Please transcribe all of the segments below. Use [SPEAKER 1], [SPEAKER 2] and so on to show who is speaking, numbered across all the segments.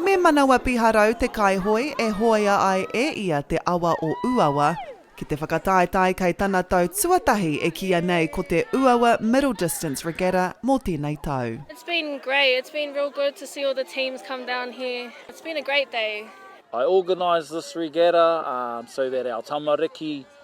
[SPEAKER 1] Me manawa piharau te kaihoe e hoea ai e ia te awa o Uawa ki te whakataetae kei tana tau tuatahi e kīia nei ko te Uawa Middle Distance Regatta mō tēnei tau. It's been great,
[SPEAKER 2] it's been real good to see all the teams come down here, it's been a great day. I organised
[SPEAKER 3] this regatta so that our tamariki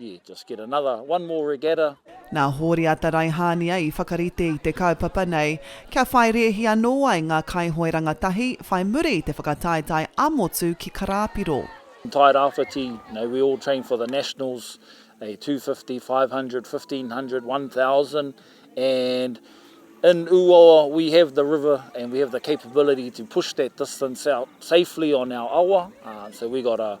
[SPEAKER 3] Yeah, just get another, one more regatta. Nā Hōriata
[SPEAKER 1] Raihānia i whakarite i te kaupapa nei kia whai rēhi anō ai ngā kaihoe rangatahi whai muri i te whakataetae ā-motu ki Karāpiro. Tairāwhiti,
[SPEAKER 3] no we all train for the nationals, a two fifty, five hundred, fifteen hundred, one thousand and in Ūawa we have the river and we have the capability to push that distance out safely on our awa, so we got a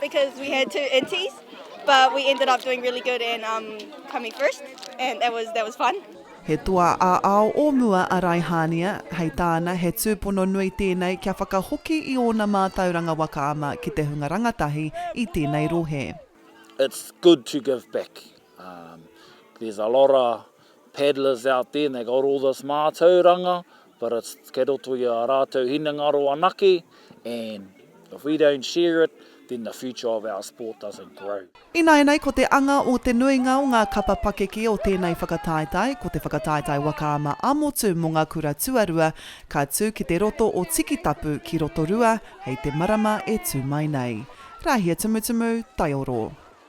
[SPEAKER 4] Because we had two inties, but we ended up doing really good and um, coming first, and that was that was fun. He toa
[SPEAKER 1] ā-ao o mua a Raihānia, hei tāna he tūpono nui tēnei kia whakahoki i ōna mātauranga waka ama ki te hunga rangatahi i tēnei rohe. It's good
[SPEAKER 3] to give back. Um, there's a lot of paddlers out there and they got all this mātauranga but it's kei roto i a rātou hinengaro anake and if we don't share it then the future of our sport doesn't grow. Ināianei ko te
[SPEAKER 1] anga o te nuinga o ngā kapa pakeke o tēnei whakataetae ko te whakataetae waka ama ā-motu mō ngā kura tuarua ka tū ki te roto o Tikitapu ki Rotorua hei te marama e tū mai nei. Rāhia Tumutumu, Taioro.